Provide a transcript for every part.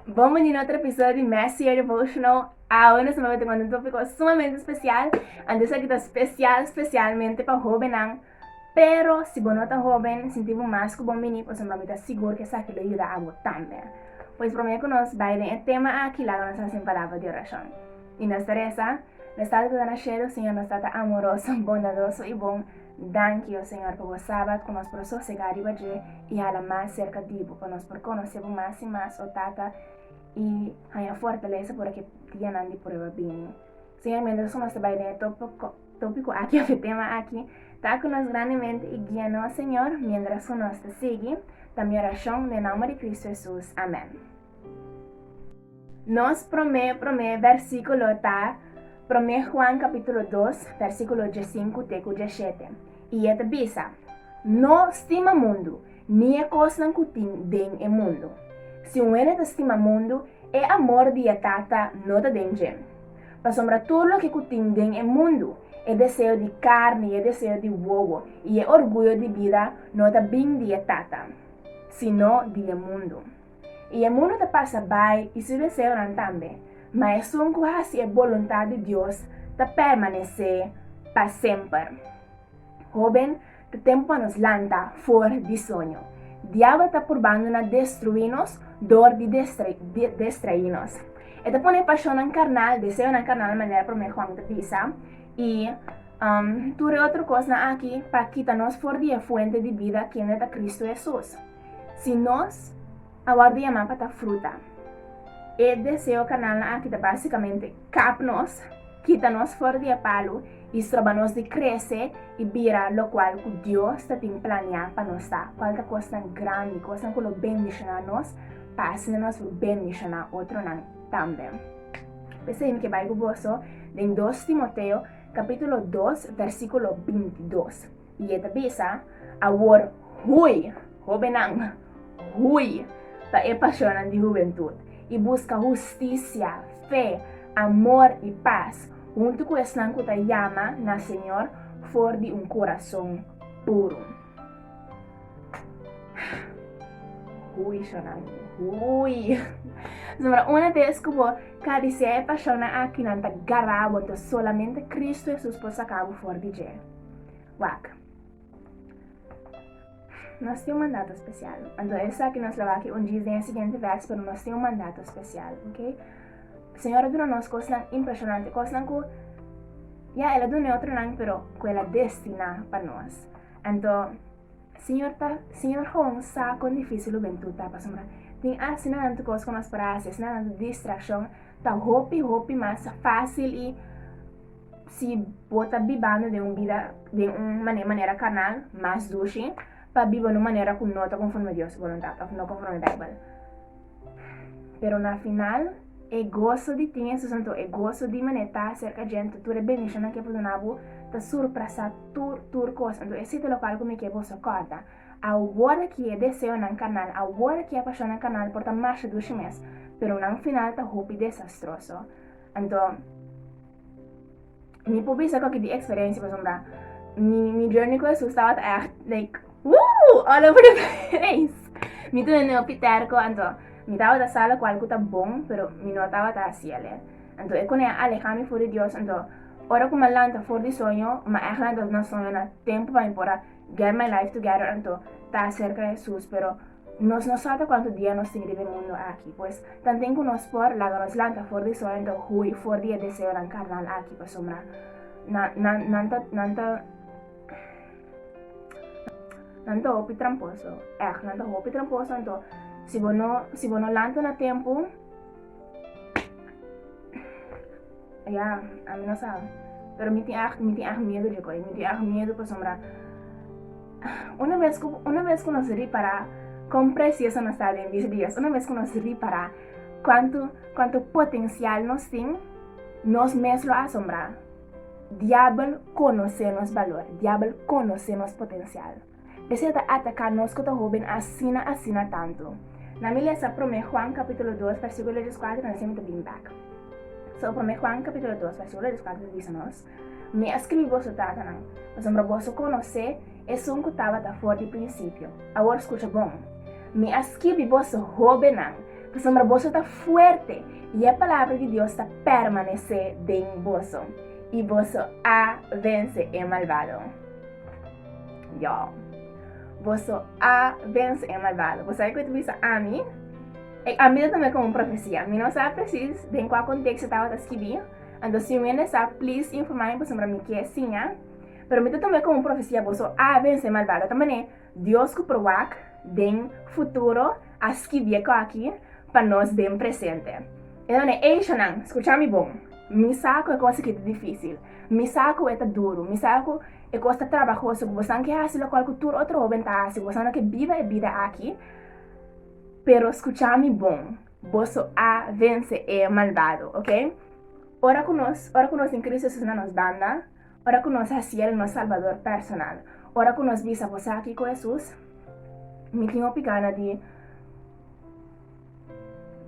Bon bini na otro episodio di Mes Year Devotional. Awor nos maba tuma un tópiko sumamente spesial. Anto esaki ta spesial spesialmente pa hóbennan. Pero si bo no ta hóben, sinti bo mas ku bon bini pasobra mami ta sigur ku esaki lo yuda abo tambe. Pues promé ku nos bai den e tema akí, laga nos hasi un palabra di orashon. I nos ta resa, Nos Tata ta na shelu, Señor, nos Tata amoroso, bondadoso i bon, danki, o Señor, pa bo Sabat ku nos por sosegá riba dje i hala mas serka di bo, pa nos por konosé bo mas i mas, o Tata, i haña fortalesa ora ki e dia nan di prueba bini. Señor, miéntras ku nos ta bai den e tópiko, tópiko aki òf e tema aki, ta ku nos grandemente i guia nos, Señor, miéntras ku nos ta sigui. Ta mi orashon den nòmber di Kristu Hesus. Amèn. Nos promé promé bèrsikulo ta promé Juan kapítulo dos bèrsikulo diesinku te ku dieshete, i e ta bisa, No stima mundu, ni e kosnan ku tin den e mundu. Si un hende ta stima mundu, e amor di e Tata no ta den dje. Pasobra tur loke ku tin den e mundu, e deseo di karni i e deseo di wowo i e orguyo di bida no ta bin di e Tata, sino di e mundu. I e mundu ta pasa bai i su deseonan tambe, ma esun ku hasi e boluntat di Dios ta permanesé pa semper. Hóben, ta tempu pa nos lanta for di soño. Diabel ta purbando na destruí nos dor di destraí nos. E ta pone e pashonnan karnal, deseonan karnal, manera Promé Juan ta bisa, i tur e otro kosnan aki pa kita nos for di e fuente di bida kende ta Kristu Hesus. Si nos a wòrdu yamá pa ta fruta, e deseo kanalnan aki ta básikamente kap nos, kita nos for di e palu i stroba nos di krese i bira lokual ku Dios ta tin planiá pa nos ta, kual ta kosnan grandi, kosnan ku lo bendishoná nos pa asina nos lo bendishoná otronan tambe. P'esei mi ke bai ku boso den dos Timoteo kapítulo dos, vèrsikulo binti dos. Y e ta bisa, Awor hui, hobennan, hui pa e pasionnan di hubentud, y busca husticia, fe, amor y paz huntu cu esnan cu ta yama na Señor for di un corazon puro. Hui, shornan, hui. Zambra una bes cu bo cabecea e pasionnan aki nan ta garabo, entos solamente Cristo Jesus por saca bo for di dje. Wak. Nos tin un mandato especial. Anto esaki nos lawak un djis den e siguiente vers, pero nos tin un mandato especial, ok? Señor a duna nos cosnan impresionante, cosnan cu ya el a duna e otronan, pero cu el a destina pa nos. Anto, Señor ta, Señor gewoon sa con dificil hubentud ta, pasobra tin asina tanto cos cu nos para hasi, asina tanto distraccion, ta hopi hopi mas facil y Si bo ta bibando den un bida den un manera karnal, mas durshi pa biba na un manera ku no ta konforme Dios boluntat òf no konforme Beibel. Pero na final, e goso di tin Hesus anto e goso di mané ta aserka djente, tur e bendishonnan ke por duna bo ta surprasá tur tur kos. Anto esei ta lokal ku mi ke boso kòrda. Awor ki e deseonan karnal, awor ki e pashonnan karnal por ta masha durshi mes, pero na un final ta hopi desastroso. Anton, mi por bisa cu aki di experiencia pasobra mi, mi journey cu Jesús estaba echt, like, woo, all over the place. Mi tu nene opi terco, anton, mi taba ta sala cual cu ta bon, pero mi no taba ta haciele. Anton, e cone aleja mi for di Dios, anton, ora cu ma lanta for di soño, ma echt lanta na soño, na tempo pa mi por a get my life together, anton, ta cerca Jesús, pero, Nos no sa ta kuantu dia nos tin riba e mundu aki. Pues, tanten ku nos por, laga nos lanta for di soño ta hui for di e deseonan karnal aki, pasobra nan, nan, nan ta, nan ta, nan ta hopi tramposo. Èg, nan ta hopi tramposo. Anto, si bo no, si bo no lanta na tempu, Ya, ami no sa. Pero mi tin erg, mi tin erg miedu di koe. Mi tin erg miedu pasobra una mes ku una mes ku nos ripara kon precioso nos ta den disi dias, una mes ku nos ripara kuantu kuantu potensial nos tin, nos mes lo asombra. Diabel konosé nos balor, diabel konosé nos potensial. Esei ta ataká nos ku ta hóben asina asina tantu. Na mi lesa Promé Juan kapítulo dos vèrsíkulo dieskuater nansha mi ta bini bèk. So, Promé Juan kapítulo dos vèrsíkulo dieskuater ta bisa nos, Mi a skirbi boso tatanan, pasobra boso konosé Esun ku tabata for di prinsipio. Awor skucha bon, Mi a skirbi boso hóbennan, pasobra boso ta fuerte i e palabra di Dios ta pèrmanesé den boso, i boso a vense e malbado. Yo. Boso a vence e malvado. Bo sabe cu ta bisa ami? E a mira tambe como un profecia. Mi no sa precies den cua contexto tabata skibi, anto si un hende sa, please informa mi pasobra mi kier siña. Pero mi ta toma e como un profecia, boso a vence e malvado. Ta manera Dios cu probac den futuro a skibi e coaki pa nos den presente. E ta manera, ey Shannan, scucha mi bon. Mi sa cu e cos aki ta dificil. Mi sa cu e ta duro. Mi sa cu. E cosa trabahoso cu bosan ke haci locual cu tur otro hoben ta haci, bosan lo ke biba e bida aki, pero scucha mi bon, boso a vence e malvado, ok? Ora cu nos, ora cu nos tin Cristo Jesus na nos banda, ora cu nos haciel nos Salvador personal, ora cu nos bisa bosa aki cu Jesus, mi tin hopi gana di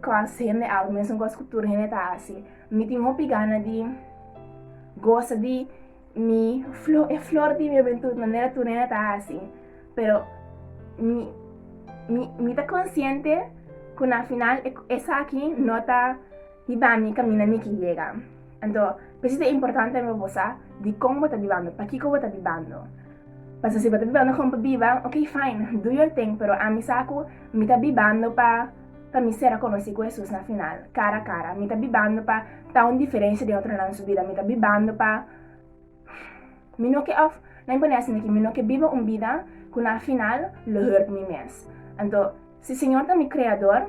cos hende out, mesun cos cu tur hende ta haci, mi tin hopi gana di gosa di. Mi flor, e flor di mi juventud, manera tu nena ta hasi. Pero mi, mi, mi ta consciente cu na final e, esa aquí no ta biba mi camina mi ki llega. Ento, pesi ta importante me bosa di con bo ta bibando, pa kiko bo ta bibando. Paso si bo ta bibando con pa biba, ok fine, do your thing, pero ami sa cu mi ta bibando pa Pa mi ser a conoci cu Hesus na final, cara a cara, mi ta bibando pa ta un diferencia den otronan su bida, mi ta bibando pa mi no ke of lain pone asina aki, mi no ke biba un bida cu na final lo hurt mi mes. Anto, si Señor ta mi Creador,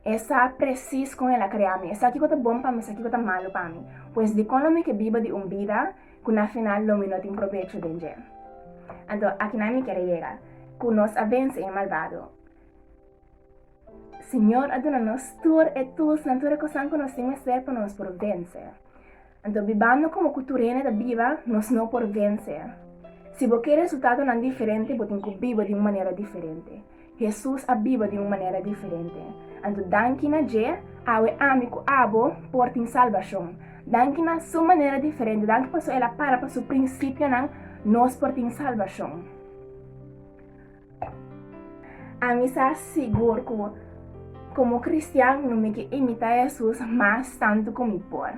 E sa precis con El a crea mi, E sa kico ta bon pa mi, E sa kico ta malo pa mi, pues dicon lo mi ke biba di un bida cu na final lo mi no tin probecho den dje? Anto, akinan mi kere yega, cu nos a vence e malvado. Señor a duna nos tur e tulsnan, tur e cosnan cu nos tin mester pa nos por vence. Anto bibando como cu tur hende ta biba, nos no por vence. Si bo ke resultadonan diferente, bo tin cu biba di un manera diferente. Jesús a biba di un manera diferente. Anto danki na dje, awe ami cu abo por tin salbacion. Danki na Su manera diferente, danki pasobra El a para pa Su principionan, nos por tin salbacion. Ami sa sigur ku komo kristian no mi ke imita Jesus mas tantu ku mi por.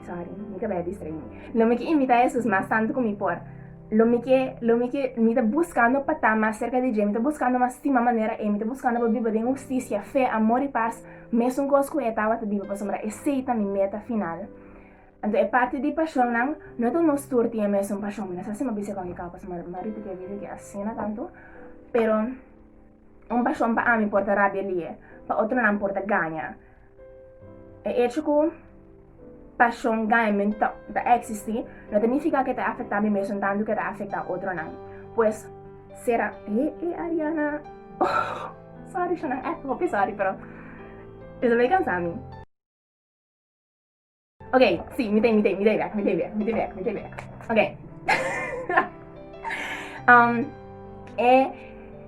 Sorry, mi ka bai distrae mi. Lo mi ke imita Jesus mas tantu ku mi por. Lo mi ke, lo mi ke, mi ta buskando pa ta mas serka di dje, mi ta buskando mas stima manera e, mi ta buskando pa biba den hustisia, fe, amor i pas, mesun kos ku e tabata biba, pasobra esei ta mi meta final. Anto e parti di pashonnan no ta nos tur tin e mesun pashon. Mi no sa si mi a bisa kon ki kau, pasobra mi no a ripitié video ki asina tantu. Pero un pashon pa ami por ta rabia lié, pa otronan por ta gaña. E echo ku pashon gañamentu ta ta eksistí no ta nifiká ku e ta afektá mi mesun tantu ku e ta afektá otronan. Pues sera he e Ariana sòri shon nan èk hopi sòri pero e ta bai kansá mi. Ok, si, mi tei, mi tei, mi tei bek, mi tei bek, mi tei bek, mi tei bek. Ok. um, e,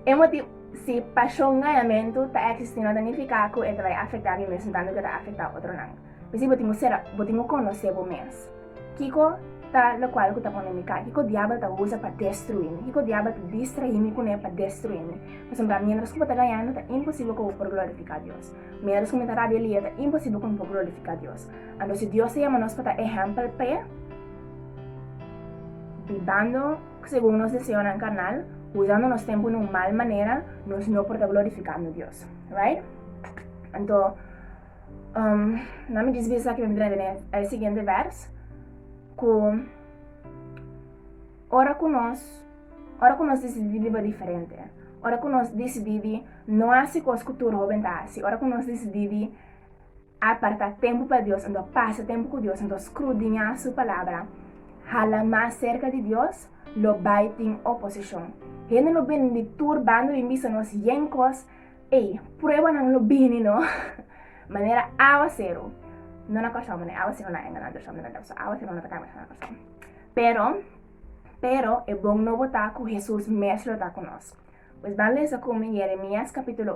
e motivo, si pasion ganhamentu ta existi no ta nifica cu e ta bai afecta mi mesmo tanto que ta afecta otronan. Pisi bo timo sera, bo timo conoce bo mes. Kiko ta lo cual cu ta pone mi kai? Kiko diabel ta usa pa destrui mi? Kiko diabel ta distrahi mi cu ne pa destrui mi? Por exemplo, mientras cu bo ta ganhando ta imposible cu bo por glorifica Dios. Mieros ku mi ta rabia lia ta imposibel ku mi por glorifiká Dios. Anto si Dios ta yama nos pa ta ehèmpel p'e, bibando segun nos deseonan karnal, usando nos tempu na un mal manera, nos no por ta glorifikando Dios. Right? Anto, um, na mi djis bisa esaki mi bin trae den e siguiente vers, ku Ora ku nos ora ku nos disidí di biba diferente, ora ku nos disidí di no hasi kos ku tur hóben ta hasi, ora ku nos disidí di apartá tempu pa Dios, anto pasa tempu ku Dios, anto skrudiñá Su Palabra, hala mas serka di Dios, lo bai tin oposishon. Hende lo bini di tur banda bin bisa nos yen kos, ei, pruebanan lo bini no, manera áwaseru, no na kòrsou, manera áwaseru na enganá tur shòndenan, ta basá áwaseru no ta kambia nada na kòrsou. Pero, pero, e bon nobo ta ku Hesus mes lo ta ku nos. Pues ban lesa ku mi Jeremias kapítulo